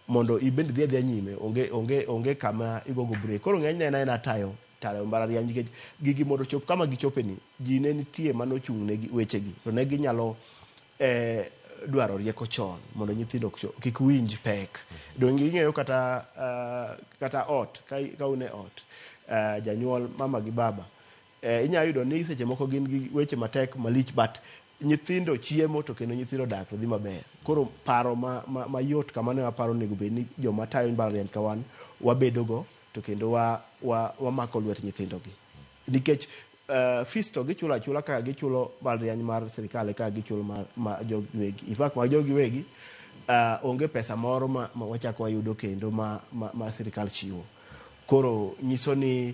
mondo ibend idhi adhiya nyime onge onge onge kama igogo break koro ng'enyne en aena tayo tayo mbalariany nikech gigi mondo chop kama gichope ni ji ne nitie mane ochung' ne wechegi to ne ginyalo eh, dwaro rieko chon mondo nyithindo kik winj pek donge ing'eyo kata uh, kata ot ka, ka une ot uh, janyuol mama gi baba Eh, inya yudo ni seche moko gin gi weche matek malich but nyithindo chiemo to kendo nyithindo dak to dhi maber. Koro paro ma, ma, mayot kamano ema aparo onego bed ni joma tayo mbalariany ka wan wabedogo to kendo wa, wa, wamako lwet nyithindogi. Nikech eh, fees to gichulo achula kaka gichulo mbalariany mar sirkal e kaka gichulo mar, ma jogi giwegi. In fact, ma jogi giwegi eh, onge pesa moro ma, ma wachako wayudo kendo ma, ma, ma sirkal chiwo. Koro nyiso ni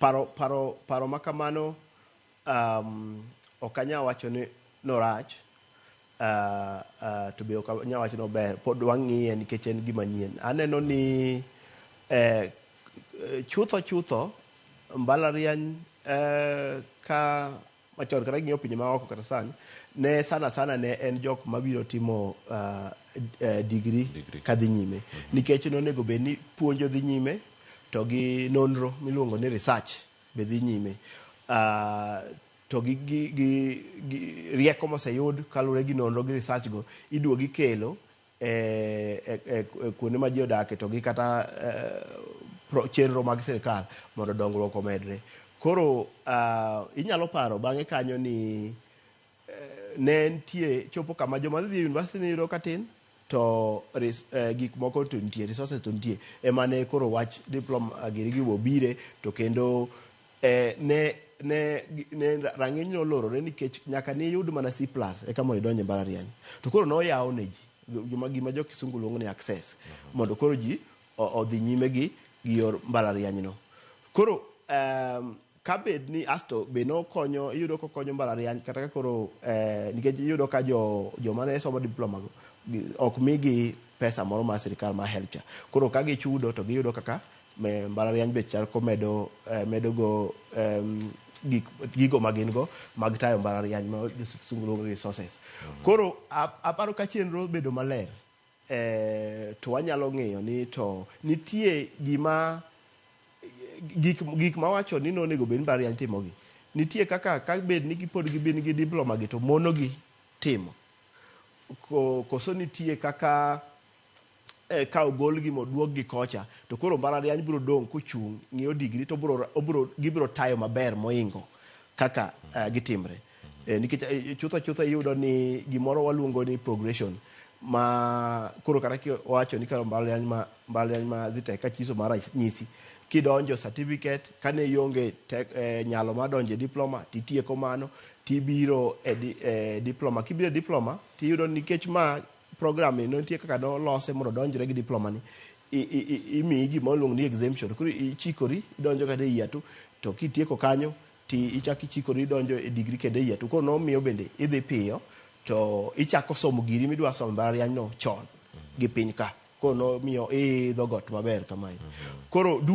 Paro, paro, paro ma kamano um, ok anyal wacho ni norach uh, uh, to be ok anyal wacho ni ober. Pod wang'iye nikech en gima nyien. Aneno ni eh, chutho chutho mbalariany eh, ka machon kata ging'iyo pinje maoko kata sani ne sana sana ne en jok mabiro timo uh, uh, digri Degree. kadhi nyime nikech nonego bed ni puonjo dhi nyime to gi nonro miluongo ni research be dhi nyime uh, to gi, gi, gi, gi rieko moseyud kaluwore gi nonro gi research go iduogi kelo e, e, e, e kuonde ma ji odake to gi kata e, pro, chenro mag sirkal mondo dongruok omedre. Koro uh, inyalo paro bang'e kanyo ni eh, ne nitie chopo kama joma dhi e university ne yudo katin to res, eh, gik moko to nitie resources to nitie ema ne koro wach diploma giri gi bobire to kendo eh, ne ne ne rang'iny ne olorore nikech nyaka ne iyud mana C plus eka mondo idonj e mbalariany to koro ne oyaw ne ji joma gima jo kisungu luongo ni access mondo koro ji o- odhi nyime gi gi yor mbalarianyno koro em, ka bed ni asto be nokonyo iyudo kokonyo mbalariany kata ka koro eh, nikech iyudo ka jo joma ne somo diploma go gi- ok migi pesa moro mar sirikal mar health cha koro ka gichudo to giyudo kaka Mbalariany be chal komedo medo go gik gigo ma gin go mag tayo mbalariany ma sungu luongo resources. Mhm. Koro aparo ka chenro bedo maler eh, to wanyalo ng'eyo ni to nitie gima gik gik ma wacho ni nonego bed mbalariany timogi nitie kaka ka bed ni pod gibin gi diploma gi to monogi timo koso nitie kaka eh, ka ogolgi moduokgi kocha to koro mbalariany biro dong' kochung' ng'iyo digri to obiro, obiro, gibiro tayo maber moingo kaka eh, gitimre eh, nikech eh, chutho chutho iyudo ni gimoro waluongo ni progression ma koro kata kiwacho ni karo mbalariany ma mbalariany ma Zitech ka chiso mar nyisi kidonjo certificate kane ionge tek- eh, nyalo mar donjo e diploma titieko mano tibiro e, di, e diploma kibiro e diploma tiyudo nikech ma program ni nitie kaka nolose mondo odonjre gi diploma ni I- i- i- imiyi gima oluongo ni exemption koro ichikori idonjo kata e yatu to kitieko kanyo ti ichak ichikori idonjo e digri kendo e yatu koro nomiyo bende idhi piyo to ichako somo giri midwa somo e mbalariany no chon gi piny ka koro nomiyo iidho got maber kamae koro du-